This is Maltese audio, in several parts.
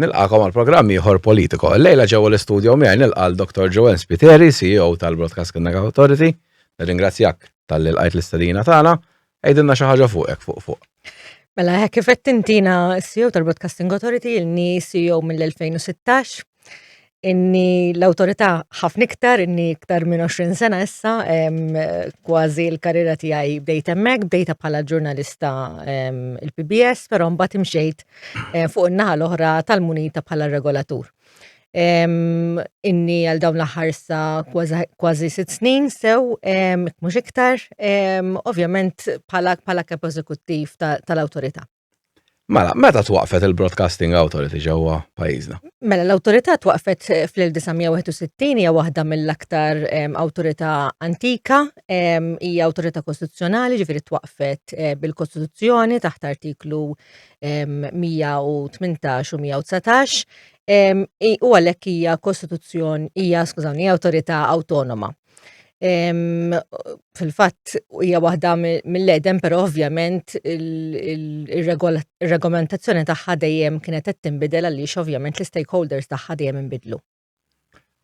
Nilqakom għal programm ieħor politiko. Lejla ġewwa l-istudju miegħi nilqa' l-Dr. Joanne Spiteri, CEO tal-Broadcasting Authority. Nirringrazzjak tal-li lqajt l-istadina tagħna. Għidilna xi ħaġa fuqek fuq fuq. Mela, hekk kif qed tintina CEO tal-Broadcasting Authority, ilni CEO mill-2016. inni l-autorità ħafna iktar, inni iktar minn 20 sena issa, kważi l-karriera tiegħi bdejt hemmhekk, bdejta bħala ġurnalista il-PBS, però mbagħad imxejt eh, fuq in-naħa l-oħra tal-munita bħala regolatur. Inni għal dawn l-aħħar sa kważi sitt snin sew, mhux iktar, ovvjament bħala kap eżekuttiv tal-awtorità. Mela, meta twaqfet il-Broadcasting Authority ġewwa pajjiżna? Mela, l-awtorità twaqfet eh, fl-1961 hija waħda mill-aktar ehm, awtorità antika, ehm, hija awtorità kostituzzjonali, ġifieri twaqfet eh, bil-Kostituzzjoni taħt artiklu 118 ehm, u 119. U għalhekk hija kostituzzjoni, hija skużawni, hija awtorità awtonoma. Fil-fatt hija waħda mill-edem, però ovvjament il-regolamentazzjoni tagħha dejjem kienet qed tinbidel għaliex ovvjament l-istakeholders tagħha dejjem inbidlu.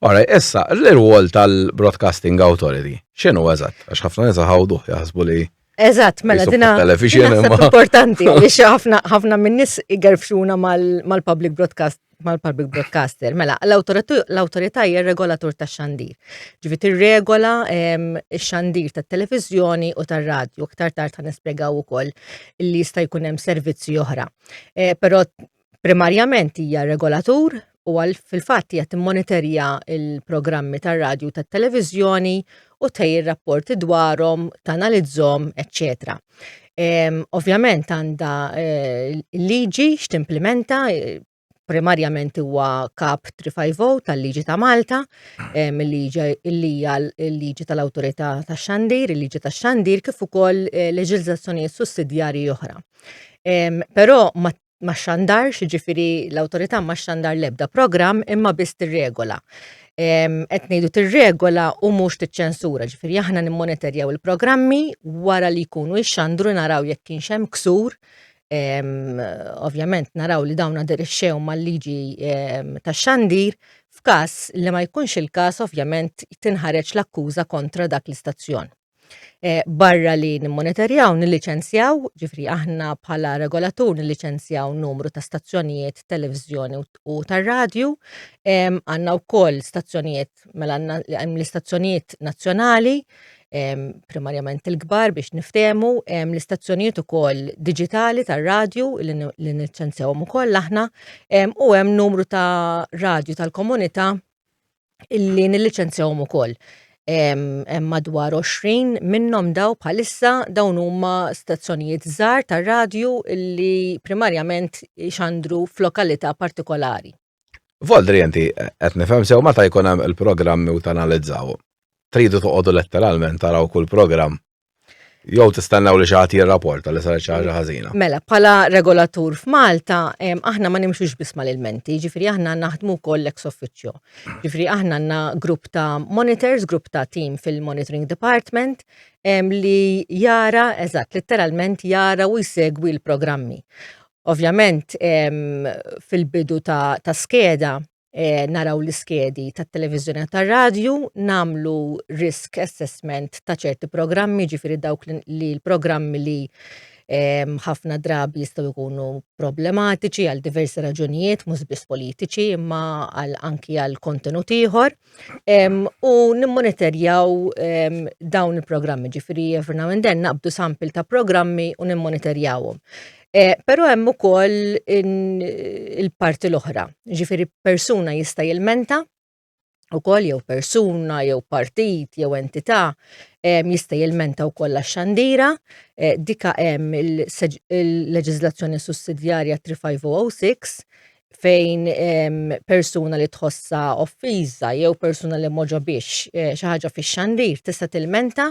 Ora, issa, l-irwol tal-Broadcasting Authority, x'inhu eżatt? Għax ħafna nies iħawduh jaħsbu li. Eżatt, mela dina importanti li ħafna ħafna minnis igerfxuna mal-public broadcast mal-public broadcaster. Mela, l-autorità hija regolatur ta' xandir. Ġivi tirregola ehm, x-xandir tat televizjoni u tar-radju. Iktar tard ta' nispjegaw ukoll li jista' jkun hemm servizzi oħra. Eh, però Primarjament hija regolatur u għal fil-fatt hija timmonitorja l-programmi tar-radju u tat-televiżjoni u tħejji rapporti dwarhom, tanalizzhom, eċċetera. Ehm, ovvjament għandha eh, liġi x'timplimenta, eh, primarjament huwa kap 350 tal-liġi ta' Malta, ehm, il-liġi li hija l-liġi tal-awtorità tax-xandir, il-liġi tax-xandir kif ukoll eh, leġiżlazzjonijiet sussidjarji oħra. Ehm, però ma ma xandar, ġifiri l-autorità ma xandar lebda program imma biss tirregola. Qed ngħidu tirregola u mhux tiċċensura, ġifiri aħna nimmonitorjaw il-programmi wara li jkunu jxandru naraw jekk kienx hemm ksur ovvjament naraw li dawn aderixxew mal-liġi tax-xandir, f'każ li ma jkunx il-każ ovvjament tinħareġ l-akkuża kontra dak l-istazzjon. Eh, barra li nimmonitorjaw, nilliċenzjaw, ġifri aħna bħala regolatur nilliċenzjaw numru ta' stazzjonijiet televizjoni u tar-radju, għandna wkoll stazzjonijiet mela għandna l-istazzjonijiet nazzjonali, primarjament il-kbar biex niftemu, l-istazzjonijiet ukoll digitali tar-radju li niċċenzjawhom ukoll aħna, u hemm numru ta' radju tal-komunità illi nilliċenzjawhom ukoll. Hemm madwar 20 minnhom daw bħalissa dawn huma stazzjonijiet żgħar tar-radju illi primarjament xandru f'lokalità partikolari. Voldri inti qed nifhem sew meta jkun hemm il-programmi u tanalizzaw. Tridu toqogħdu letteralment taraw kull programm Jew tistennew li xi ħadd jirrapporta li saret xi ħaġa ħażina. Mela, bħala regolatur f'Malta, aħna ma nimxux biss mal-ilmenti, ġifri aħna naħdmu wkoll ex officio. Ġifri aħna għandna grupp ta' monitors, grupp ta' team fil-monitoring department li jara, eżatt, letteralment jara u jsegwi l-programmi. Ovvjament, fil-bidu ta' skeda, eh, naraw l-iskedi tat-televiżjoni u tar-radju, namlu risk assessment ta' ċerti programmi, ġifiri dawk li l-programmi li eh, ħafna drabi jistgħu jkunu problematiċi għal diversi raġunijiet, mhux biss politiċi, imma għal anki għal kontenut ieħor. U nimmonitorjaw dawn il-programmi, ġifiri every now and then naqbdu sampil ta' programmi u nimmonitorjawhom. Eh, Pero hemm ukoll il-parti l-oħra, ġifiri persuna jista' jilmenta u koll jew persuna, jew partit, jew entità jista' jilmenta wkoll għax-xandira, eh, dika hemm il-leġiżlazzjoni sussidjarja 3506 fejn persuna li tħossa offiża jew persuna li moġa biex eh, xi ħaġa fix-xandir tista' tilmenta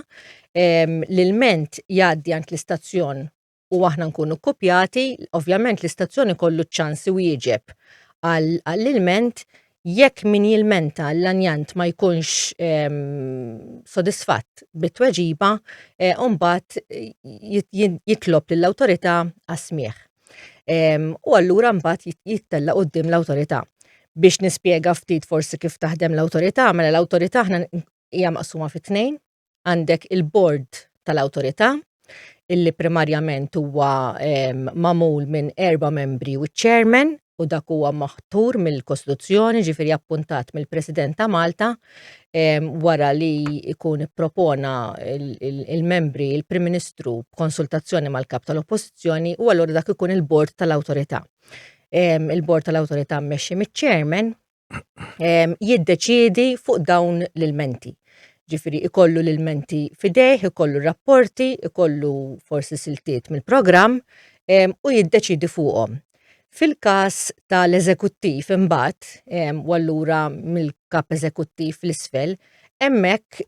l-ilment jgħaddi għand l-istazzjon u aħna nkunu kkupjati, ovvjament l-istazzjoni kollu ċ-ċans iwieġeb għall-ilment jekk min jilmenta l-lanjant ma jkunx ehm, sodisfatt bit-tweġiba, eh, umbat jitlob lill-awtorità għasmieħ. Ehm, u allura mbagħad jittella qudiem l-awtorità. Biex nispjega ftit forsi kif taħdem l-awtorità, mela l-awtorità aħna hija maqsuma fit-tnejn, għandek il-bord tal-awtorità illi primarjament huwa magħmul minn erba' membri u ċ-chairman u dak huwa maħtur mill-Kostituzzjoni ġifieri appuntat mill-President ta' Malta wara li jkun ippropona il-membri il-Prim Ministru b'konsultazzjoni mal-Kap tal-Oppożizzjoni u allura dak ikun il-bord tal-awtorità. Il-bord tal-awtorità mmexxi miċ-chairman jiddeċiedi fuq dawn l-ilmenti. Ġifiri, ikollu l-ilmenti fidejh, ikollu rapporti, ikollu forsi siltiet mill-programm u jiddeċiedi fuqhom. Fil-każ tal-eżekuttiv imbagħad, u allura mill-kap eżekuttiv l-isfel, hemmhekk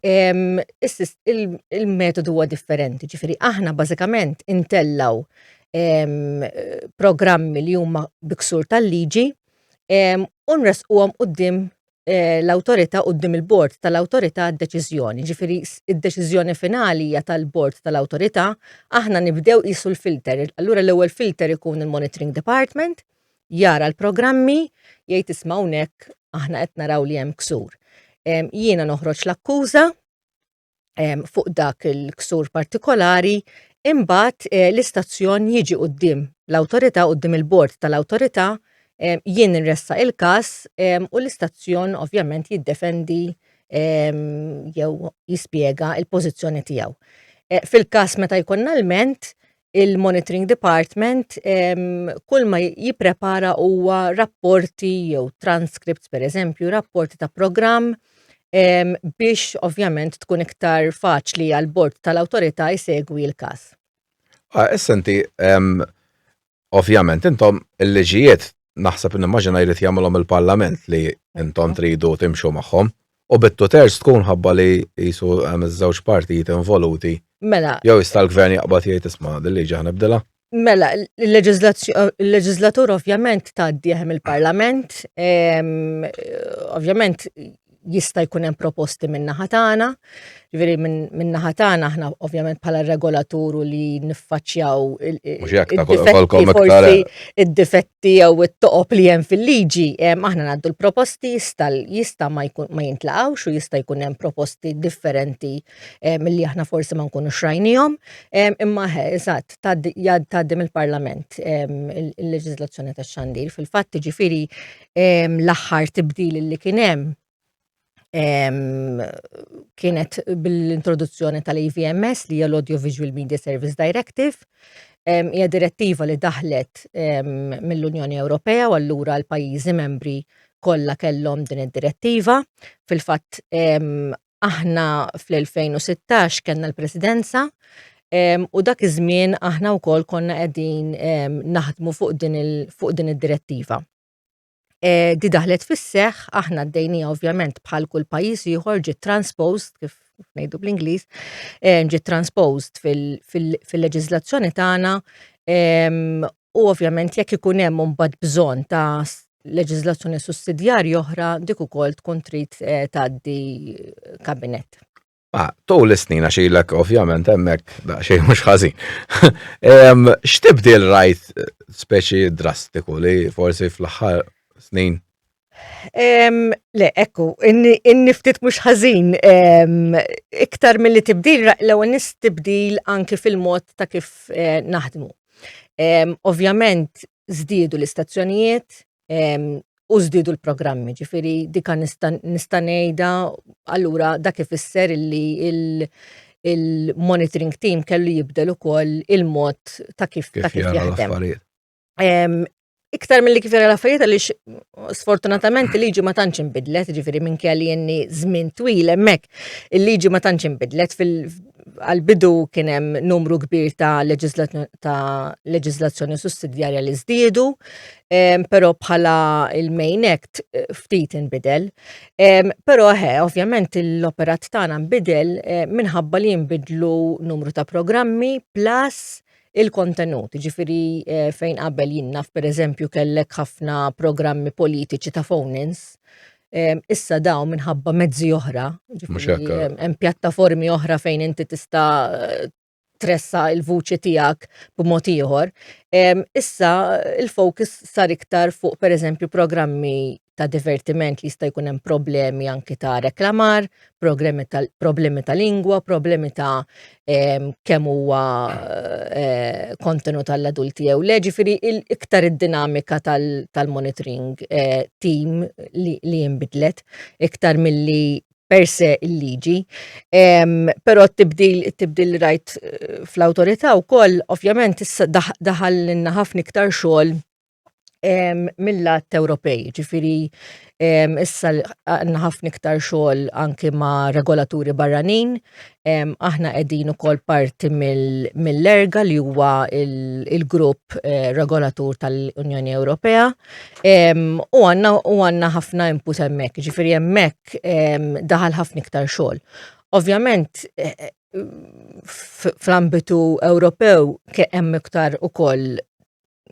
il-metodu huwa differenti, ġifiri aħna bażikament intellgħu programmi li huma bi ksur tal-liġi u nresquhom quddiem eh, l-awtorità quddiem il-bord tal-awtorità d-deċiżjoni. Ġifieri id-deċiżjoni finali hija tal-bord tal-awtorità, aħna nibdew qisu l-filter. Allura l-ewwel filter ikun il-monitoring department, jara l-programmi, jgħid isma' hawnhekk aħna qed naraw li hemm ksur. Jiena noħroġ l-akkuża, ehm, fuq dak il-ksur partikolari, imbagħad eh, l-istazzjon jiġi qudiem l-awtorità qudiem il-bord tal-awtorità ehm, jien nressa il-każ ehm, u l-istazzjon ovvjament jiddefendi jew jispjega il-pożizzjoni tiegħu. Eh, fil-każ meta jkollna l-ment, il-Monitoring Department kull ma jipprepara huwa rapporti jew transcripts per eżempju, rapporti ta' programm biex ovvjament tkun iktar faċli għal bord tal-awtorità jsegwi l-każ. Ah, issa inti ovvjament intom il-liġijiet naħseb nimmaġina jrid jagħmilhom il-Parlament li intom tridu timxu magħhom. U bit-two thirds tkun ħabba li jisu hemm iż-żewġ partijiet involuti. Mela. Jew jista' l-gvern jaqbad jgħid isma' din liġi ħa nibdilha. Mela, il-leġislatur ovvjament tgħaddi hemm il-Parlament, ehm, ovvjament jista' jkun hemm proposti minn naħa tagħna, jiġifieri minn naħa tagħna aħna ovvjament bħala regolaturu li niffaċċjaw id-difetti jew it-toqob li hemm fil-liġi, aħna ngħaddu l-proposti jista' ma jintlaqgħux u jista' jkun hemm proposti differenti milli aħna forsi ma nkunu xrajnihom, imma eżatt tgħaddim il-Parlament il-leġiżlazzjoni tax-xandir fil-fatt jiġifieri l-aħħar tibdil li kien hemm kienet bil-introduzzjoni tal-AVMS li hija l-Audio Visual Media Service Directive. Hija direttiva li daħlet mill-Unjoni Ewropea u allura l-pajjiżi membri kollha kellhom din id-direttiva. Fil-fatt aħna fl-2016 kellna l-presidenza u dak iż-żmien aħna wkoll konna qegħdin naħdmu fuq din id-direttiva. Eh, di daħlet fis-seħ, aħna d-dejnija ovvjament bħal kull pajjiż ieħor ġiet transposed, kif ngħidu bl-Ingliż, ġiet transposed fil-leġiżlazzjoni tagħna U ovvjament jekk ikun hemm imbagħad bżonn ta' leġiżlazzjoni sussidjarja oħra dik ukoll tkun trid eh, tgħaddi kabinett. Ah, tul is-snin għax ilek ovvjament hemmhekk daqsxejn mhux ħażin. X'tibdil rajt eh, speċi drastiku li forsi fl-aħħar snin Le, ekku, inni ftit mhux ħażin. Iktar milli tibdil, l-ewwel nis tibdil anki fil-mod ta' kif eh, naħdmu. Ovvjament żdiedu l-istazzjonijiet u żdiedu l-programmi, ġifieri dika nista' ngħidha allura dak ifisser li il-monitoring team kellu jibdel ukoll il-mod ta' kif jaħdem. Iktar mill-li kif l-affarijiet għaliex sfortunatament il-liġi ma tantx inbidlet, ġifieri minn kelli jenni żmien twil hemmhekk. Il-liġi ma tantx inbidlet għal-bidu kien hemm numru kbir ta' leġislazzjoni sussidjarja li żdiedu, però bħala il-main act ftit inbidel. Però he, ovvjament l-operat tagħna nbidel minħabba li jinbidlu numru ta' programmi plus il-kontenut, ġifiri eh, fejn qabel jinnaf per eżempju kellek ħafna programmi politiċi ta' phone-ins, eh, issa daw minħabba mezzi oħra, hemm pjattaformi oħra fejn inti tista' eh, tressa il-vuċi tijak b'mod ieħor. Issa il-fokus sar iktar fuq per eżempju programmi ta' divertiment li jista' jkun hemm problemi anki ta' reklamar, problemi ta' lingwa, problemi ta' ehm, kemm huwa eh, kontenut għall-adulti jew le, ġifieri iktar id-dinamika tal-monitoring eh, team li jinbidlet iktar milli per se il-liġi. Ehm, però t-tibdil, t-tibdil rajt eh, fl-autorità u koll, ovvjament, daħal l-inna ħafna iktar xogħol mill-lat Ewropej, ġifiri issa għanna ħafna iktar xogħol anki ma' regolaturi barranin, aħna qegħdin ukoll parti mill-erga li huwa il-grupp eh, regolatur tal-Unjoni Ewropea u għanna ħafna input hemmhekk, ġifiri hemmhekk daħal ħafna iktar xogħol. Ovvjament, eh, eh, fl-ambitu Ewropew hemm iktar ukoll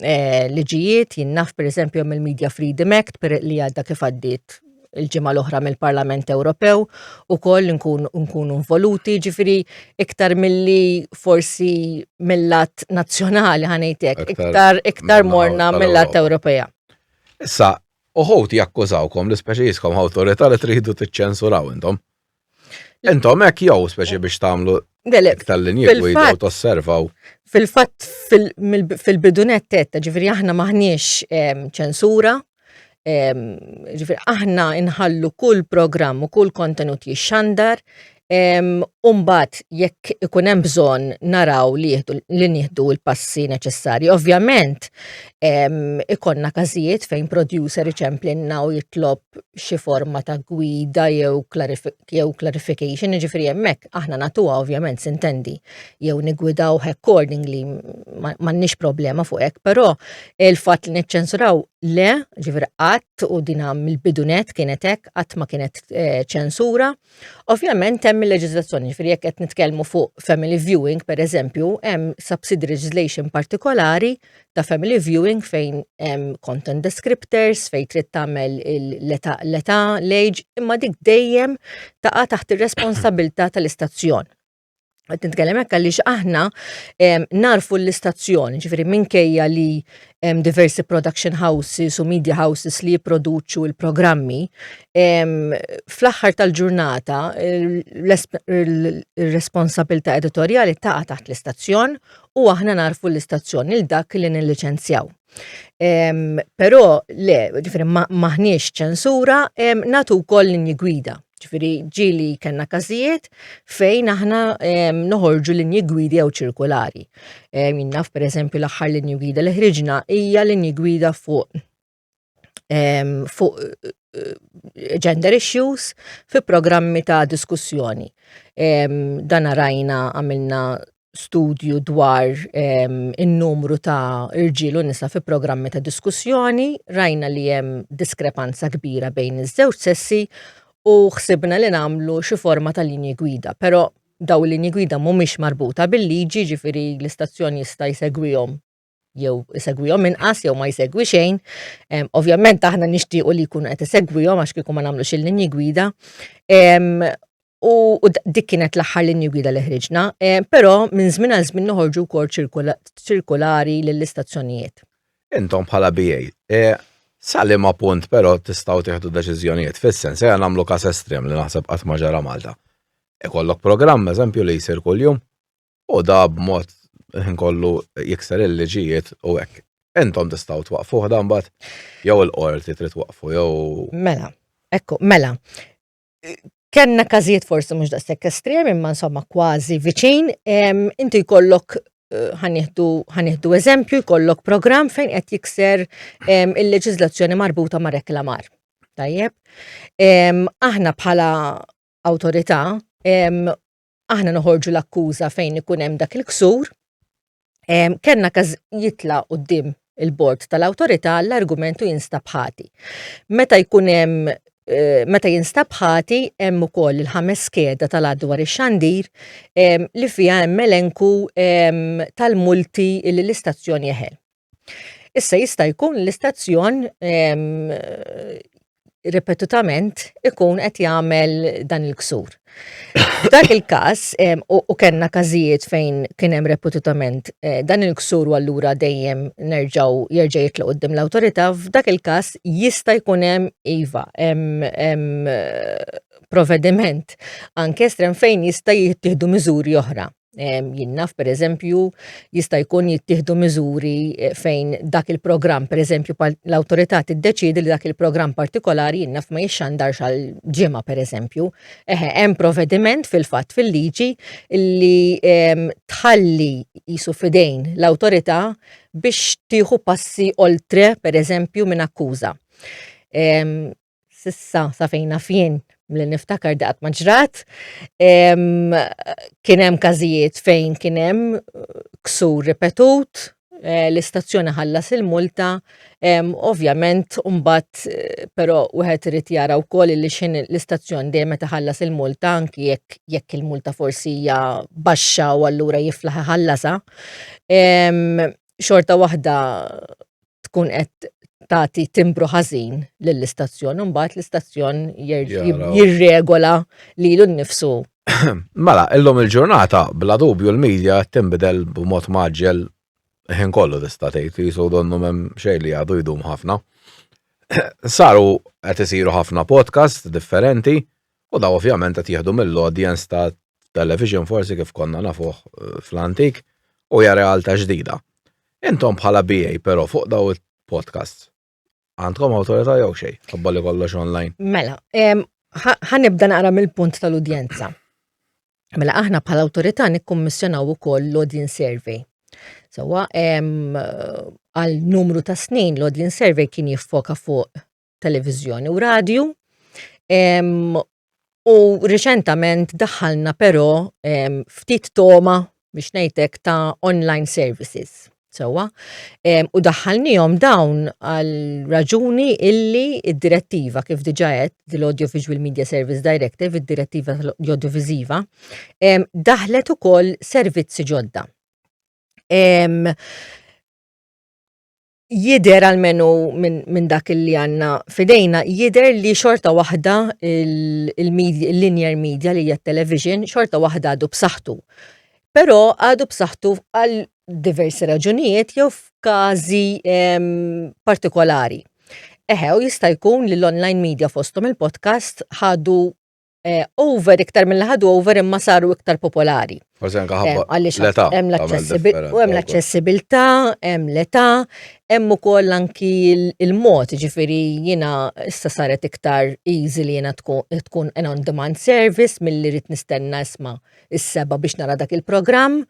eh, liġijiet jinnaf per eżempju hemm il-Media Freedom Act per li għadda kif għaddiet il-ġimgħa l-oħra mill-Parlament Ewropew u koll nkunu involuti ġifiri iktar milli forsi mill-lat nazzjonali ħanejtek, iktar iktar morna mill-lat Ewropea. Issa, uħut jakkużawkom l-ispeċi jiskom awtorita li tridu t-ċensuraw intom. Intom hekk jew speċi biex tagħmlu tal-linji gwida u tosservaw. Fil-fatt fil-bidunet tetta ġifieri aħna maħniex ehm, ċensura, ehm, ġifieri aħna inħallu kull programm u kull kontenut jixxandar ehm, Umbat, jekk ikun hemm bżonn naraw li nieħdu l-passi neċessarji. Ovvjament, ikonna każijiet fejn producer iċemplinna u jitlob xi forma ta' gwida jew jew clarification, ġifri hemmhekk aħna natuha ovvjament sintendi jew nigwidaw accordingly m'għandniex problema fuq hekk, però il-fatt li niċċensuraw le, ġifri qatt u dina mill-bidunet kienet hekk qatt ma kienet eh, ċensura. Ovvjament hemm il-leġiżlazzjoni, ġifri jekk qed nitkellmu fuq family viewing pereżempju, hemm subsidy legislation partikolari ta' family viewing fejn hemm content descriptors, fejn trid tagħmel l-età, l-age, imma dik dejjem taqa' taħt ir-responsabilità tal-istazzjon. Qed nitkellem hekk għaliex aħna narfu l-istazzjon, ġifieri minkejja li hemm diversi production houses u media houses li jipproduċu l-programmi, fl-aħħar tal-ġurnata l-responsabilità editorjali taqa' taħt l-istazzjon u aħna narfu l-istazzjon il dak li nilliċenzjaw. Però le, ġifri maħniex ċensura, natu wkoll linji gwida. Ġifri ġili kellna każijiet fejn aħna noħorġu linji gwidi jew ċirkulari. Minnaf per eżempju l-aħħar linji gwida li ħriġna hija linji gwida fuq fuq eh, gender issues fi programmi ta' diskussjoni. Dan rajna għamilna studju dwar in-numru ta' irġiel u nisa fi programmi ta' diskussjoni, rajna li hemm diskrepanza kbira bejn iż-żewġ sessi u ħsibna li nagħmlu xi forma ta' linji gwida, però daw linji gwida mhumiex marbuta bil-liġi ġifiri l-istazzjon jista' jsegwihom jew isegwihom inqas jew ma jsegwi xejn. Ovvjament aħna nixtiequ li jkunu qed isegwihom għax kieku ma nagħmlux il-linji gwida. U dik kienet l-aħħar linji gwida li ħriġna, però minn żmien għal żmien noħorġu wkoll ċirkolari lill-istazzjonijiet. Intom bħala BA, e, salim punt però tistgħu tieħdu deċiżjonijiet fis-sens ejja nagħmlu każ estrem li naħseb qatt ma ġara Malta. Ikollok programm eżempju li jsir kuljum u da b'mod ħin kollu jikser il-liġijiet u hekk. Entom tistgħu twaqfuh dan bat jew il-qorti trid twaqfu jew. Mela, ekku, mela. Kenna każijiet forsi mhux daqshekk estrem imma insomma kważi viċin, inti jkollok eh, ħanieħdu eżempju jkollok programm fejn qed jikser il-leġiżlazzjoni marbuta ma' reklamar. Tajjeb. Aħna bħala awtorità aħna noħorġu l-akkuża fejn ikun hemm dak il-ksur, kellna każ jitla qudiem il-bord tal-awtorità l-argumentu jinstab ħati. Meta jkun hemm eh, meta jinstab ħati hemm ukoll il-ħames skeda tal-adwar ix-xandir li fiha hemm elenku tal-multi li l-istazzjon jeħel. Issa jista' jkun l-istazzjon ripetutament ikun qed jagħmel dan il-ksur. Dak il-każ u kellna każijiet fejn kien hemm repetutament eh, dan il-ksur u allura dejjem nerġgħu jerġa' jitlu qudiem l-awtorità, f'dak il-każ jista' jkun hemm iva hemm provediment anke estrem fejn jista' jittieħdu miżuri oħra. Jinnaf, per eżempju, jista' jkun jittieħdu miżuri eh, fejn dak il-programm, per eżempju, l-autorità tiddeċidi li dak il-programm partikolari jinnaf ma jixxandarx għal ġimgħa, per eżempju. Eħe, hemm provvediment fil-fatt fil-liġi li ehm, tħalli jisu fidejn l-autorità biex tieħu passi oltre, per eżempju, minn akkuża. Ehm, Sissa, sa fejn naf jien, li niftakar daqat ma ġrat, kien hemm każijiet fejn kien hemm ksur ripetut, eh, l-istazzjoni ħallas il-multa, ovvjament mbagħad eh, però wieħed irid jara wkoll li x'in l-istazzjon dejjem meta ħallas il-multa anki jekk jekk il-multa forsi hija baxxa u allura jiflaħ iħallasha. Xorta waħda tkun qed tagħti timbru ħażin lill-istazzjon, imbagħad l-istazzjon jirregola lilu nnifsu. Mela, illum il-ġurnata, bla dubju l-medja tinbidel b'mod maġġel ħin kollu tista' tgħid li jisu donnu hemm xejn li għadu jdum ħafna. Saru qed isiru ħafna podcast differenti, U dawn ovvjament qed jieħdu mill-audience ta' television forsi kif konna nafuh fl-antik u hija realtà ġdida. Intom bħala BA però fuq daw il-podcasts għandkom awtorità jew xejn, ħabba li kollox online. Mela, ħanibda naqra mill-punt tal-udjenza. Mela aħna bħala awtorità nikkummissjonaw ukoll l-audience survey. Sewa għal numru ta' snin l-audience survey kien jiffoka fuq televiżjoni u radju. U riċentament daħħalna però ftit toma biex ngħidlek ta' online services. Sewa, u daħħalnihom dawn għal raġuni illi id-direttiva kif diġa qed l-Audiovisual Media Service Directive, id-direttiva l-audiovisiva, daħlet ukoll servizzi ġodda. jider għalmenu minn min dak li għanna fidejna, jider li xorta wahda il-media, il linear media li hija television, xorta wahda għadu b'saħħtu. Pero għadu b'saħħtu għal diversi raġunijiet jew f'każi ehm, partikolari. Eħew jista' jkun li l-online media fostom il-podcast ħadu eh, over iktar mill ħadu over imma saru iktar popolari. Forse anka ħabba eh, għaliex l-età. Hemm l-aċċessibilità, hemm l-età, hemm ukoll anki il-mod, ġifieri jiena issa saret iktar easy li jiena tkun an on demand service milli rrid nistenna isma' is-seba' biex nara dak il-programm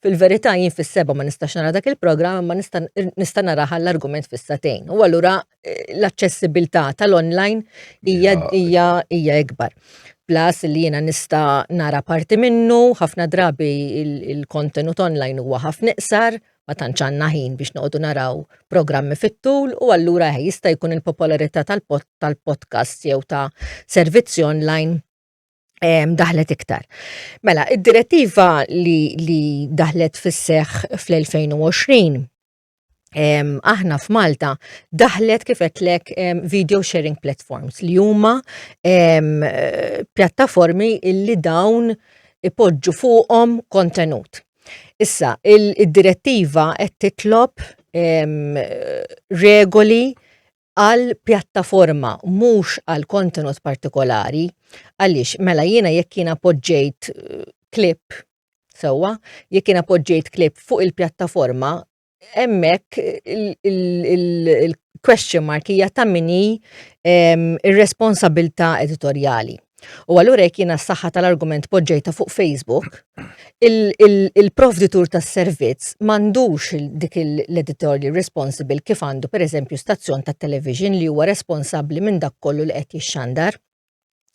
Fil-verità jien fis-seba' ma nistax nara dak il-programm imma nista' nista' narah għall-argument fis-sagħtejn. U allura eh, l-aċċessibilità tal-online hija hija hija ikbar. Plus li jiena nista' nara parti minnu, ħafna drabi il-kontenut online huwa ħafna iqsar, ma tantx għandna ħin biex noqogħdu naraw programmi fit-tul u allura eh, jista' jkun il-popolarità tal-podcast jew ta' servizzi online daħlet iktar. Mela, id-direttiva li, li daħlet fis-seħ fl-2020 aħna f'Malta daħlet kifet lek video sharing platforms li huma pjattaformi li dawn ipoġġu fuqhom kontenut. Issa, il-direttiva qed titlob regoli għal pjattaforma mhux għal kontenut partikolari għaliex mela jiena jekk jiena poġġejt klip eh, sewwa, jekk jiena poġġejt klip fuq il-pjattaforma hemmhekk il-question mark hija ta' mini ehm, ir-responsabilità editorjali. U allura jekk jiena s-saħħa tal-argument poġġejta fuq Facebook, il-provditur tas-servizz m'għandux dik l-editorial responsible kif għandu pereżempju stazzjon tat-television li huwa responsabbli minn dak kollu li qed jixxandar.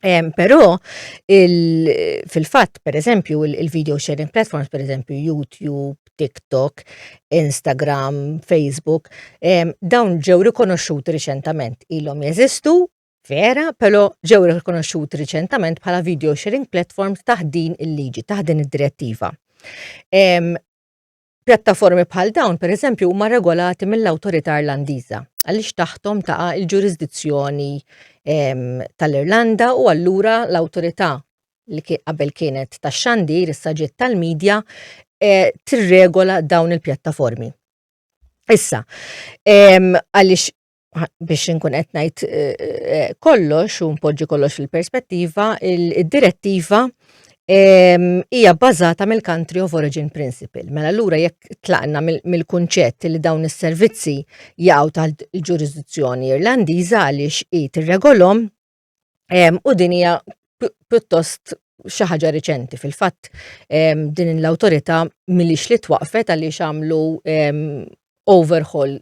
Um, Però fil-fatt, per eżempju, il-video sharing platforms, per eżempju, YouTube, TikTok, Instagram, Facebook, um, dawn ġew rikonoxxuti riċentament ilhom jeżistu Vera, però ġew rikonoxxuti riċentament bħala video sharing platforms taħt din il-liġi, taħt din id-direttiva. Pjattaformi bħal dawn, per eżempju, huma regolati mill-awtorità Irlandiża għaliex taħtom taqa' il-ġurisdizzjoni tal-Irlanda u allura l-awtorità li qabel kienet tax xandir issa ġiet tal-medja eh, tirregola dawn il-pjattaformi. Issa, għaliex biex inkun qed ngħid eh, eh, kollox u npoġġi kollox fil-perspettiva, il-direttiva ehm, hija bbażata mill-country of origin principle. Mela allura jekk tlaqna mill-kunċett li dawn is-servizzi jaqgħu tal-ġurisdizzjoni Irlandiża għaliex hi tirregolhom u din hija pjuttost xi ħaġa riċenti fil-fatt din l-awtorità milix li twaqfet għaliex għamlu overhaul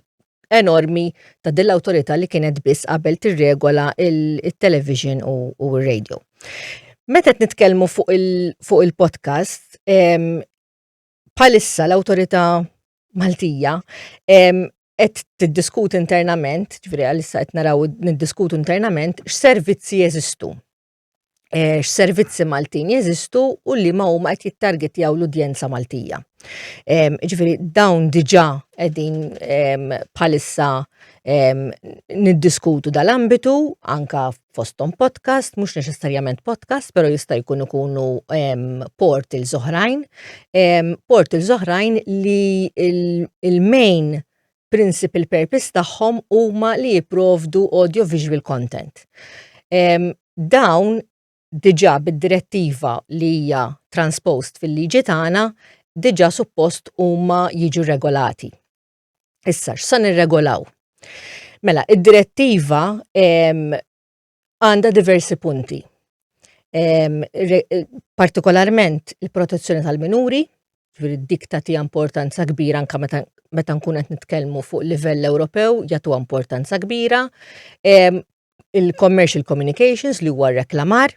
enormi ta' din l-awtorità li kienet biss qabel tirregola il-television u r-radio. Meta qed nitkellmu fuq il-podcast, bħalissa l-awtorità Maltija qed tiddiskutu internament, ġifieri għalissa qed naraw niddiskutu internament x'servizzi jeżistu. Eh, x'servizzi Maltin jeżistu u li ma huma qed jittargetjaw l-udjenza Maltija. Ġifieri dawn diġà qegħdin bħalissa niddiskutu dal-ambitu anka fosthom podcast, mhux neċessarjament podcast, però jista' jkun ikunu portals oħrajn, portals oħrajn li il-main principal purpose tagħhom huma li jipprovdu audio-visual content. Dawn diġà bid-direttiva li hija transposed fil-liġi tagħna diġà suppost huma jiġu regolati. Issa, x'sa nirregolaw? Mela, id-direttiva għandha diversi punti. Partikolarment il-protezzjoni tal-minuri, ġviri dik tagħti importanza kbira anka meta meta nkun qed nitkellmu fuq livell Ewropew jagħtu importanza kbira. Il-commercial communications li huwa reklamar,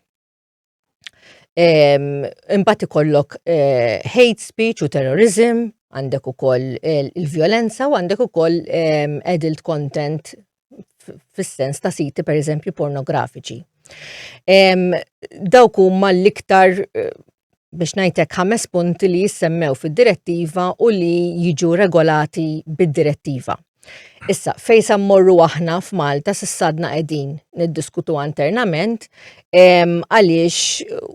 Imbagħad ikollok eh, hate speech u terrorism, għandek ukoll eh, il-vjolenza u għandek ukoll adult content fis-sens ta' siti per eżempju pornografiċi. Dawk huma l-iktar eh, biex ngħidlek ħames punti li jissemmew fid-direttiva u li jiġu regolati bid-direttiva. Issa, fejn sa mmorru aħna f'Malta s'issadna qegħdin niddiskutu internament għaliex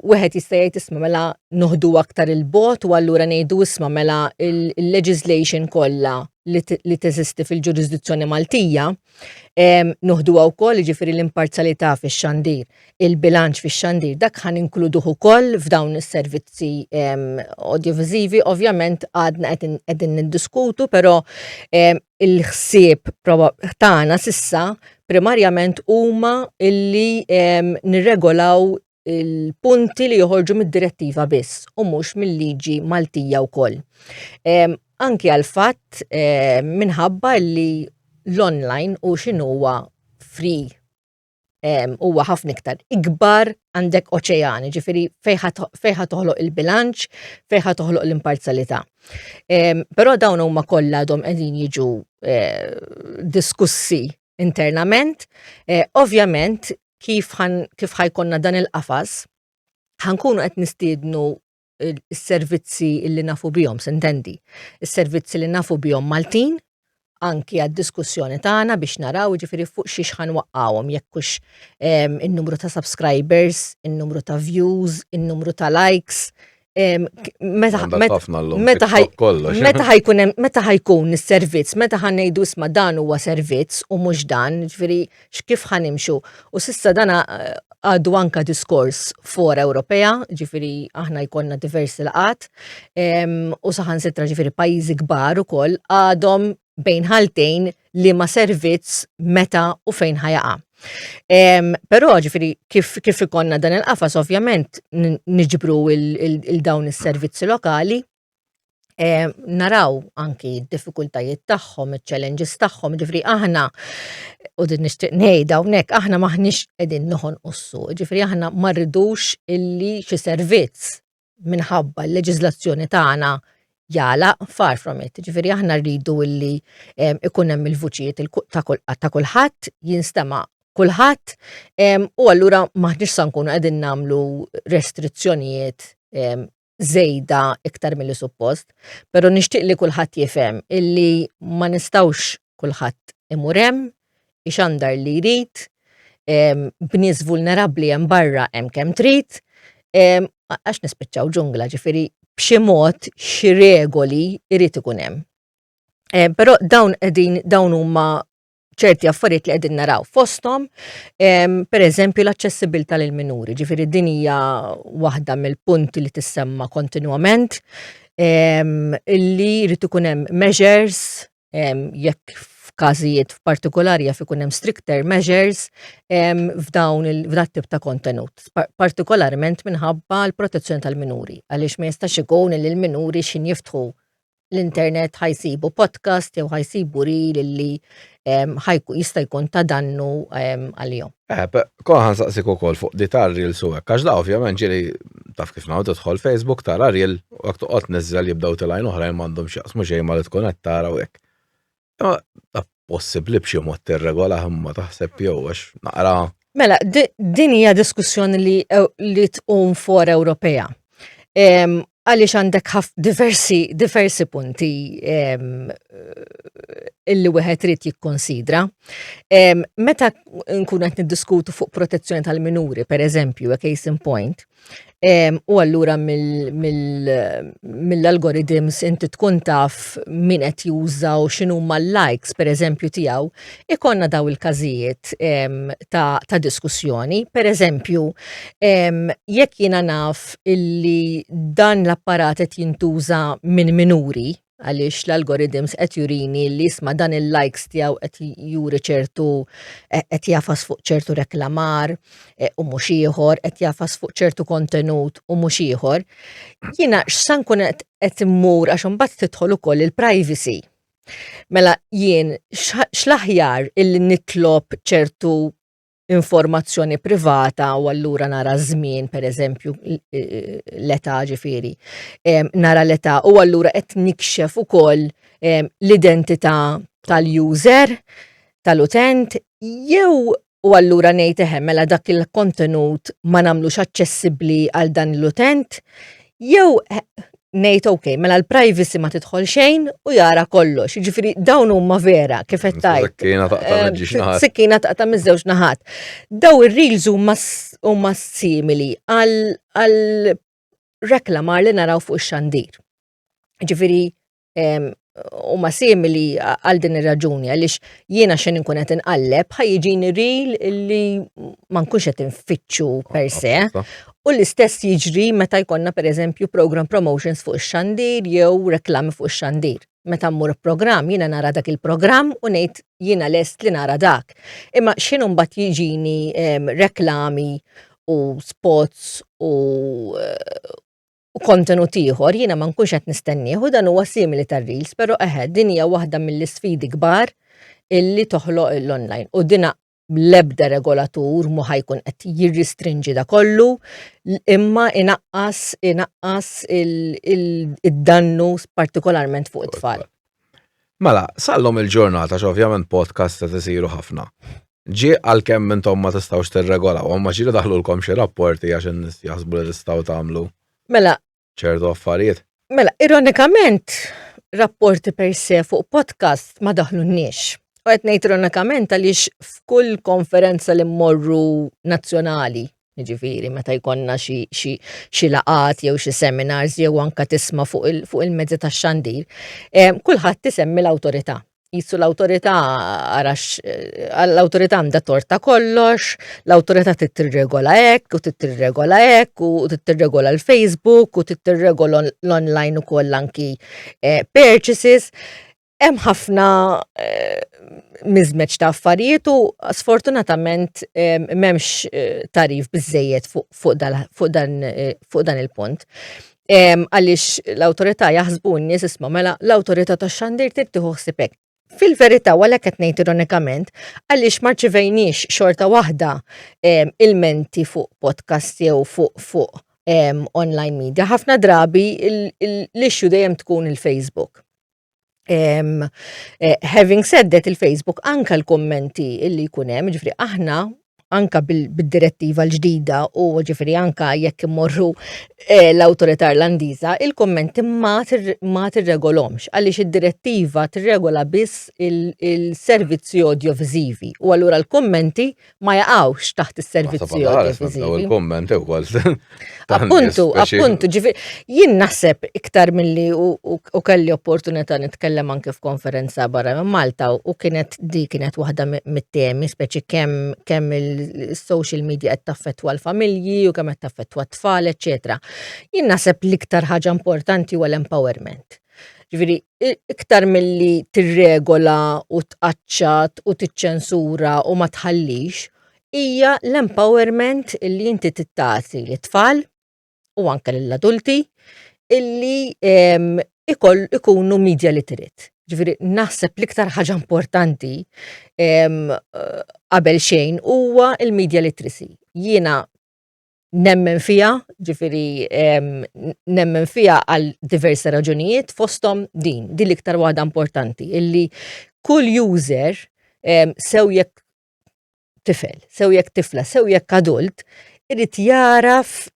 wieħed jista' jgħid isma' mela noħdu aktar il-bot u allura ngħidu isma' mela il-legislation kollha li teżisti fil-ġurisdizzjoni Maltija noħduha wkoll jiġifieri l-imparzjalità fix-xandir. il-bilanċ fix-xandir dak ħan inkluduh ukoll f'dawn is-servizzi audiovisivi. Ovvjament għadna qegħdin niddiskutu, però il-ħsieb tagħna sissa primarjament huma illi nirregolaw il-punti li joħorġu mid-direttiva biss u mhux mill-liġi Maltija wkoll. Anki għal fatt minħabba li l-online u x'inhuwa free huwa ħafna iktar ikbar għandek oċeani, ġifiri fejħa toħloq il-bilanċ, fejħa toħloq l-imparzalità. Però dawn huma kollha għadhom qegħdin jiġu eh, diskussi internament. Eh, ovvjament, kif ħajkonna dan il-qafas, ħankunu qed nistiednu is-servizzi li nafu bihom, sintendi, is-servizzi li nafu bihom Maltin, anki għad-diskussjoni tagħna biex naraw ġifiri fuq xiex ħan waqqawhom jekk hux ehm, in-numru ta' subscribers, in-numru ta' views, in-numru ta' likes. Ehm, meta ħajkun meta ħajkun is-servizz, meta ħan ngħidu isma' dan huwa servizz u mhux dan, ġifieri x'kif ħa nimxu. U s'issa dana għadu anka diskors for Ewropea, ġifiri aħna jkollna diversi laqat, u saħansitra ġifiri pajjiżi kbar ukoll għadhom bejn ħaltejn li ma servizz meta u fejn ħajaqa'. Però ġifiri kif kif ikollna dan il-qafas ovvjament niġbru il-dawn is-servizzi lokali eh, naraw anki d-diffikultajiet tagħhom, iċ-challenges tagħhom, ġifri aħna u din nixtieq ngħid hawnhekk aħna maħniex qegħdin noħon ussu, ġifri aħna ma rridux illi xi servizz minħabba l-leġiżlazzjoni tagħna jala far from it. Ġifiri aħna rridu illi ikun hemm il-vuċijiet ta' kulħadd jinstema' kulħadd u allura maħniex sa nkunu qegħdin nagħmlu restrizzjonijiet żejda iktar milli suppost, però nixtieq li kulħadd jifhem illi ma nistgħux kulħadd imur hemm, ixandar li jrid, b'nies vulnerabbli hemm barra hemm kemm trid, għax nispiċċaw ġungla, ġifieri b'xi mod xi regoli jrid ikun hemm. Però dawn qegħdin dawn huma ċerti affarijiet li qegħdin naraw fosthom, per eżempju l-aċċessibilità lil minuri, ġifieri din hija waħda mill-punti li tissemma kontinwament illi jrid ikun hemm measures jekk f'każijiet f'partikolari jaf ikun hemm stricter measures f'dawn il-tip ta' kontenut, partikolarment minħabba l-protezzjoni tal-minuri, għaliex ma jistax ikun li l-minuri x'injiftħu l-internet ħajsibu podcast jew ħajsibu ril li jista' jkun ta' dannu għalihom. Eh, Konħan saqsik u kol fuq di tar ril su hekk, għax da ovvjament ġili taf kif naw tidħol Facebook tara ril u għak toqgħod nizzel jibdaw tilajn oħrajn m'għandhom x'jaqsmu xejn ma li tkun qed tara u hekk. Possibbli b'xi mod tirregola imma taħseb jew għax naqra. Mela, din hija diskussjoni li li tqum for Ewropea. Għaliex għandek diversi diversi punti illi wieħed irid jikkonsidra. Meta nkun qed niddiskutu fuq protezzjoni tal-minuri, pereżempju, a case in point, U allura mill-algorithms inti tkun taf min qed juża u x'inhu mal-likes pereżempju tiegħu, ikonna daw il-każijiet ta' diskussjoni. Pereżempju, jekk jiena naf illi dan l-apparat qed jintuża minn minuri, għaliex l-algorithms qed jurini li jisma' dan il-likes tiegħu qed juri ċertu eh, qed jafas fuq ċertu reklamar eh, u mhux ieħor, qed jafas fuq ċertu kontenut u mhux ieħor. Jiena x'san kun qed immur għax imbagħad tidħol ukoll il-privacy. Mela jien x'laħjar illi nitlob ċertu informazzjoni privata u allura nara żmien pereżempju l-età ġifieri. Nara l-età u allura qed nikxef ukoll l-identità tal-user tal-utent jew u allura ngħid eħe mela dak il-kontenut ma nagħmlux aċċessibbli għal dan l-utent Jew ngħid ok, mela l-privacy ma tidħol xejn u jara kollox. Ġifieri dawn huma vera kif qed tajt. Sikkina taqta' eh, miż-żewġ naħat. Sikkina taqta' miż-żewġ naħat. Daw ir-reels huma simili għal reklamar li naraw fuq ix-xandir. Ġifieri u ma simili għal din ir-raġuni għaliex jiena xejn inkun qed inqalleb ħajġini ril li ma nkunx qed infittxu per se. U l-istess jiġri meta jkollna pereżempju program promotions fuq ix-xandir jew reklami fuq ix-xandir. Meta mmur program jiena nara dak il-programm u ngħid jiena lest li nara dak. Imma xejn imbagħad jiġini reklami u spots u u kontenut ieħor jiena ma nkunx qed nistennieh u dan huwa simili tar-reels, però eħe din hija waħda mill-isfidi kbar illi toħloq l-online u dina l-ebda regolatur mu ħajkun qed jirristrinġi da kollu imma inaqqas inaqqas id-dannu partikolarment fuq it-tfal. Mela, sal-lum il-ġurnata x'ovvjament podcasts qed isiru ħafna. Ġie għalkemm intom ma tistgħux tirregolawhom għax jrid idaħħlulkom xi rapporti għax in-nies jaħsbu li tistgħu tagħmlu Mela, ċertu affarijiet. mela, ironikament, rapporti per se fuq podcast ma daħlunniex. U qed ngħid ironikament għaliex f'kull konferenza li mmorru nazzjonali Jiġifieri meta jkollna xi xi xi laqgħat jew xi seminars jew anke tisma' fuq il- fuq il-mezzi tax-xandir, eh, kulħadd isemmi l-awtorità. Qisu l-awtorità ara x', eh, l-awtorità għandha t-tort ta' kollox, l-awtorità trid tirregola hekk u trid tirregola hekk u trid tirregola l-Facebook u trid tirregola l-online ukoll anki, eh, purchases. hemm ħafna eh, miżmeġ ta' affarijiet u sfortunatament eh, m'hemmx eh, tarif biżejjed fuq dan il-punt. Għaliex l-awtorità jaħsbu n-nies isma' mela l-awtorità tax-xandir trid tieħu ħsibek. Fil-verità wara qed ngħid ironikament għaliex ma rċivejniex xorta waħda ilmenti fuq podcast jew fuq fuq online media. Ħafna drabi l-issue dejjem tkun il-Facebook Um, uh, having said that il-Facebook anka l-kommenti illi kunem, ġifri aħna anka bil-direttiva l-ġdida u ġifri anka jekk immorru eh, l-autorità irlandiża, il-kommenti ma tirregolomx għaliex id-direttiva tirregola biss il-servizzi audiovisivi u allura l-kommenti ma jaqawx taħt is-servizzi audiovisivi. Il-komment ukoll. Appuntu, appuntu, ġifi, jien naħseb iktar milli u kelli opportunità nitkellem anke f'konferenza barra minn Malta u kienet di kienet waħda mit-temi, speċi kemm kemm il-social media qed taffettwa l-familji u kemm qed taffettwa t-tfal, eċetera. Jien naħseb l-iktar ħaġa importanti huwa l-empowerment. Ġifieri iktar milli tirregola u tqaċċat u tiċċensura u ma tħallix, hija l-empowerment li inti tittati lit-tfal u anke lill-adulti illi ehm, ikoll ikunu media literate. Ġifieri naħseb l-iktar ħaġa importanti ehm, qabel xejn huwa il-media literacy. Jiena nemmen fija, ġifiri nemmen fija għal diversi raġunijiet fostom din, din l-iktar waħda importanti, illi kull user sew jekk tifel, sew jekk tifla, sew jekk adult, irrit jaraf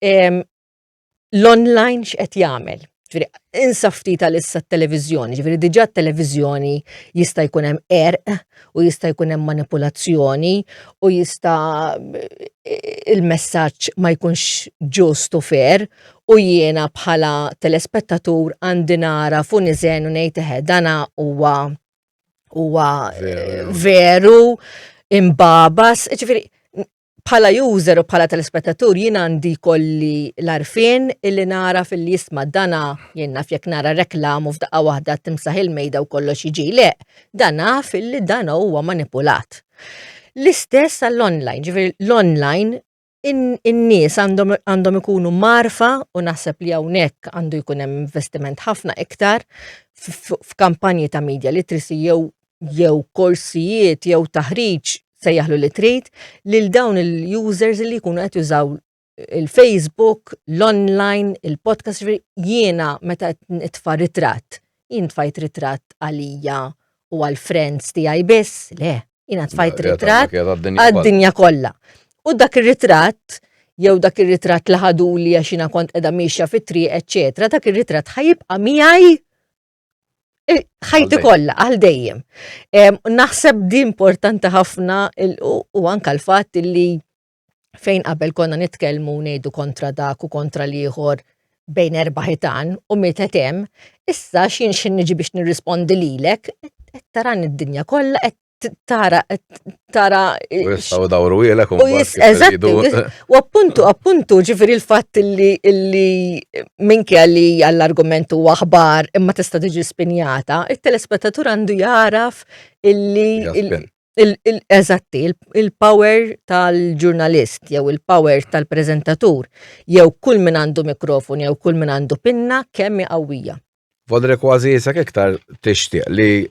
l-online x'qed jagħmel. Ġifieri, insa ftit għal issa t-televiżjoni, ġifieri diġà t-televiżjoni jista' jkun hemm erq u jista' jkun hemm manipulazzjoni u jista' il-messaġġ ma jkunx ġust u fair u jiena bħala telespettatur għandi nara fu niżen u ngħid eħe dana huwa huwa veru imbabas, ġifieri bħala user u bħala telespettatur jien għandi kolli l-arfin illi nara fil jisma dana jien naf jekk nara reklam u f'daqqa waħda timsaħ il-mejda u kollox jiġi le, dan naf illi dan huwa manipulat. L-istess għall-online, ġifieri l-online in-nies għandhom ikunu marfa u naħseb li hawnhekk għandu jkun hemm investiment ħafna iktar f'kampanji ta' media literacy jew jew korsijiet jew taħriġ sejjaħlu li trid lil dawn il-users li jkunu qed jużaw il-Facebook, l-online, il-podcast, jiena meta nitfa' ritratt, jien tfajt ritratt għalija u għal-friends tiegħi biss, le, jiena tfajt ritratt għad-dinja kollha. U dak ir-ritratt jew dak ir-ritratt li ħadu li għax jiena kont qiegħda miexja fit-triq, eċċetera, dak ir-ritratt ħajibqa' miegħi ħajti kollha għal dejjem. Naħseb di importanti ħafna u anka l-fatt li fejn qabel konna nitkellmu ngħidu kontra dak u kontra l-ieħor bejn erba' ħitan u mietet hemm, issa x'jien x'in niġi biex nirrispondi lilek, qed taran id-dinja kollha qed tara, tara. U jistaw dawru jilek u jisqeżattu. U appuntu, appuntu, ġifiri l-fat li li minki għalli għall-argumentu għahbar imma tista tiġi spinjata, il-telespettatur għandu jaraf illi. Eżatti, il-power tal-ġurnalist, jew il-power tal-prezentatur, jew kull min għandu mikrofon, jew kull min għandu pinna, kemm qawwija. Fodri kważi jisek iktar tixtieq li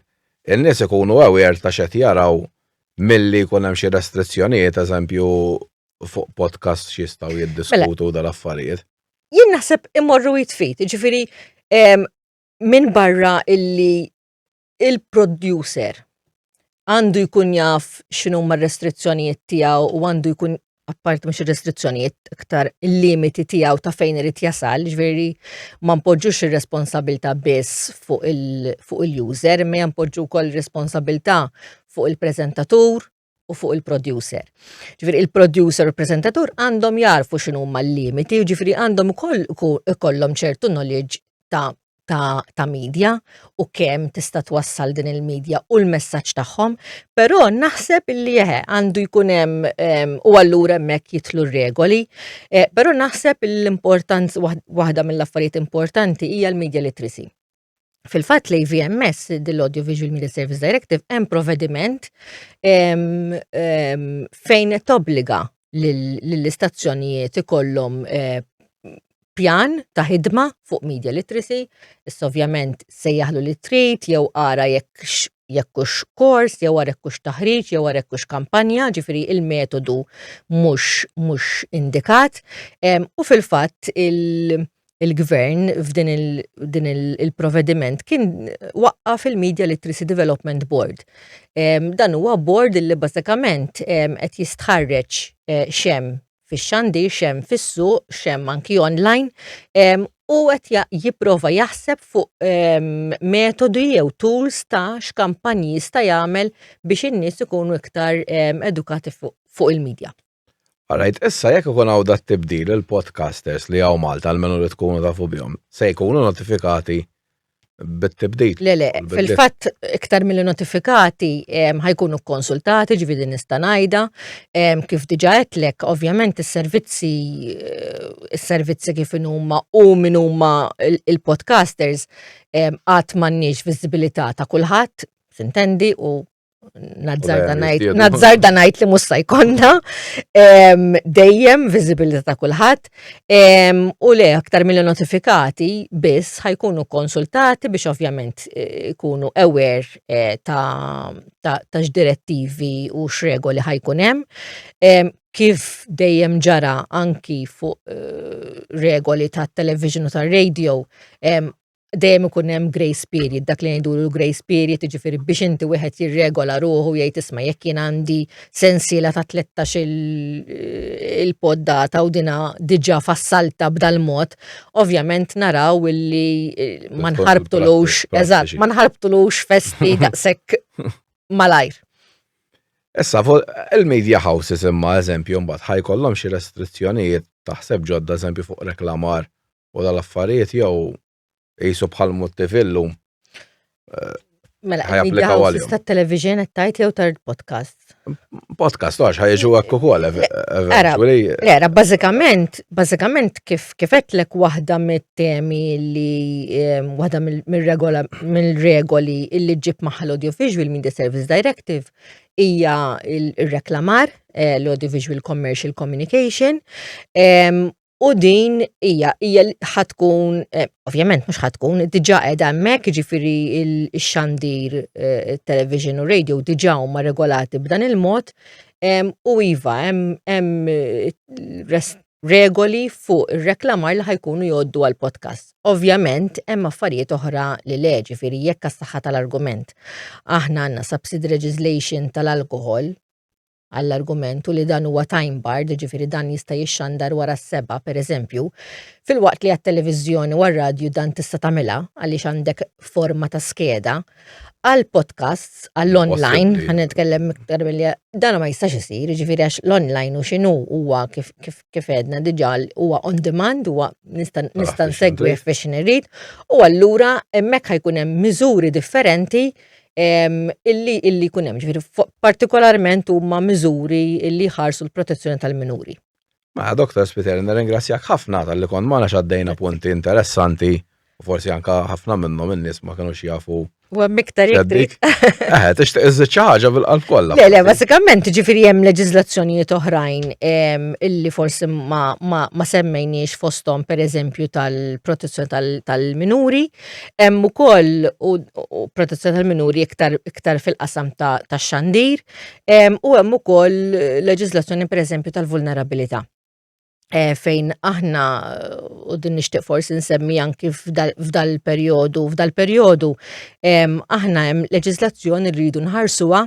n-nies ikunu aware ta' x'qed jaraw milli jkun hemm xi restrizzjonijiet eżempju fuq podcast x'jistgħu jiddiskutu mela, dal-affarijiet. Jien naħseb imorru jitfit, ġifieri minn barra illi il-producer għandu jkun jaf xinu ma restrizzjonijiet tiegħu u għandu jkun apparti mhux ir-restrizzjonijiet iktar il-limiti tiegħu ta' fejn irid jasal, ġveri ma npoġġux ir-responsabilta biss fuq il-user, ma jampoġġu kol responsabilta fuq il-prezentatur, u fuq il-producer. Ġifiri il-producer u l-prezentatur għandhom jarfu xinu ma l-limiti, ġifiri għandhom kollom ċertu knowledge ta' ta', ta media u kemm tista' twassal din il-media u l-messaġġ tagħhom, però naħseb li jeħe għandu jkun hemm u allura hemmhekk jitlu regoli, eh, però naħseb l-importanz waħda mill-affarijiet importanti hija l-media literacy. Fil-fatt li VMS, dil-Audio Visual Media Service Directive, hemm provvediment fejn tobbliga lill-istazzjonijiet ikollhom eh, pjan ta' ħidma fuq media literacy, issa ovvjament se jaħlu li trid jew ara jekk jekkux kors, jew ara jekkux taħriġ, jew ara jekkux kampanja, ġifiri il-metodu mhux indikat. U fil-fatt il- il-gvern f'din il-provediment kien waqqa fil-Media Literacy Development Board. Dan huwa board li bażikament qed jistħarreġ eh, xem fix-xandi, xem fis-suq, xem anki online, u qed jipprova jaħseb fuq metodi jew tools ta' x'kampanji jista' jagħmel biex in-nies ikunu iktar edukati fuq il-medja. Alright, issa jekk ikun hawn dat tibdil il-podcasters li hawn Malta almenu li tkunu tafu bihom, se jkunu notifikati bit-tibdil. Le, le, fil-fatt iktar mill notifikati ħajkunu konsultati ġvidi nista' ngħidha, kif diġà għedlek, ovvjament is-servizzi is-servizzi kif huma u min huma il-podcasters qatt m'għandniex viżibilità ta' kulħadd, tintendi, u nazzarda najt li musta jkonna, dejjem viżibilità ta' kulħadd, u le aktar mill notifikati biss ħajkunu konsultati biex ovvjament eh, ikunu aware eh, ta' x'direttivi u x'regoli ħajkun hemm kif dejjem ġara anki fuq eh, regoli ta' television u ta' radio, dejjem ikun hemm grace period, dak li ngħidu l-grace period, jiġifieri biex inti wieħed jirregola ruħu jgħid isma' jekk jien għandi sensiela ta' 13 eh, il-poddata u dina diġà fassalta b'dal mod, ovvjament naraw illi eh, ma nħarbtulux, eżatt, ma nħarbtulux festi daqshekk malajr. Issa, il-media houses imma eżempju mbagħad ħajkollhom xi restrizzjonijiet taħseb ġodda eżempju fuq reklamar u dal-affarijiet jew jisu bħal multivillu. Eh, mela, ħajapplikaw għalihom. Ta' television qed tajt jew tard podcast. Podcast għax ħajġu hekk ukoll eventually. Era, bażikament, bażikament kif kif qedlek waħda mit-temi li ehm, waħda mill-regola mill-regoli illi ġib maħal Audiovisual Media Service Directive hija il-reklamar eh, l-Audiovisual Commercial Communication ehm, U din hija hija ħatkun eh, ovvjament mhux ħatkun diġà qiegħda hemmhekk jiġifieri x-xandir eh, television u radio diġà huma regolati b'dan il-mod u iva hemm eh, regoli fuq ir-reklamar li ħajkunu jgħoddu għal podcast. Ovvjament hemm affarijiet oħra li le ġifieri jekk għas-saħħa tal-argument. Aħna għandna subsidy legislation tal-alkohol għall-argument u li dan huwa time barred, ġifiri dan jista' jixxandar wara s-seba, per eżempju, fil-waqt li għat-televiżjoni u għar-radju dan tista' tagħmilha għaliex għandek forma ta' skeda, għal podcasts, għall-online, għan nitkellem iktar billi, dan ma jistax isir, ġifiri għax l-online u xinu huwa kif edna diġa huwa on demand, huwa nista' nsegwi fiex nirrid, u allura hemmhekk ħajkun hemm miżuri differenti illi illi jkun hemm, ġifieri partikolarment huma miżuri illi ħarsu l-protezzjoni tal-minuri. Ma' Dr. Spiteri, nirringrazzjak ħafna tal-li kont ma' għaddejna punti interessanti u forsi anka ħafna minnhom in-nies ma kienux jafu U għem miktar jekk. Eħe, tixtieq iżżid xi ħaġa bil-qalb kollha. Le, le, basikament ġifieri hemm leġiżlazzjonijiet oħrajn illi forsi ma semmejniex fosthom pereżempju tal-protezzjoni tal-minuri. Hemm ukoll u protezzjoni tal-minuri iktar fil-qasam tax-xandir u hemm ukoll leġiżlazzjoni pereżempju tal-vulnerabilità. Eh, fejn aħna u din nixtieq forsi nsemmi anki f'dal-perjodu, f'dal-perjodu aħna hemm leġislazzjoni rridu nħarsuha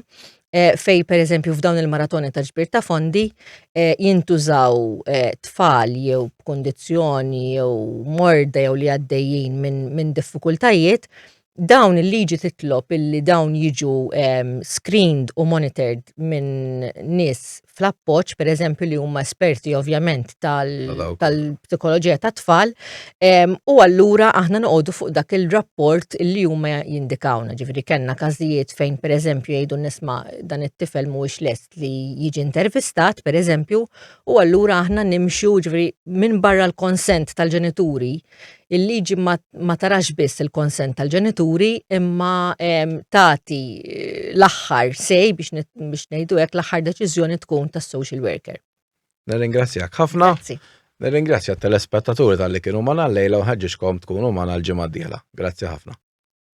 Eh, fej per eżempju f'dawn il-maratoni ta' ġbir ta' fondi eh, jintużaw eh, tfal jew b'kundizzjoni jew morda jew li għaddejjin minn min diffikultajiet, dawn il-liġi titlob illi dawn jiġu ehm, screened u monitored minn nis fl-appoġġ, per eżempju, li huma esperti ovvjament tal-psikoloġija tal tat-tfal, u allura aħna noqogħdu fuq dak il-rapport li huma jindikawna. Ġifieri kellna każijiet fejn per eżempju jgħidu nisma' dan it-tifel mhuwiex lest li jiġi intervistat, per eżempju, u allura aħna nimxu ġifieri minn barra l-konsent tal-ġenituri il-liġi ma tarax biss il-konsent tal-ġenituri imma tagħti eh, l-aħħar sej biex ngħidu hekk l-aħħar deċiżjoni tkun tas-social worker. Nirringrazzjak ħafna. Nirringrazzja t-telespettaturi tal-li kienu ma nallejla u ħagġiġkom tkunu ma nal-ġimgħa Grazzi ħafna.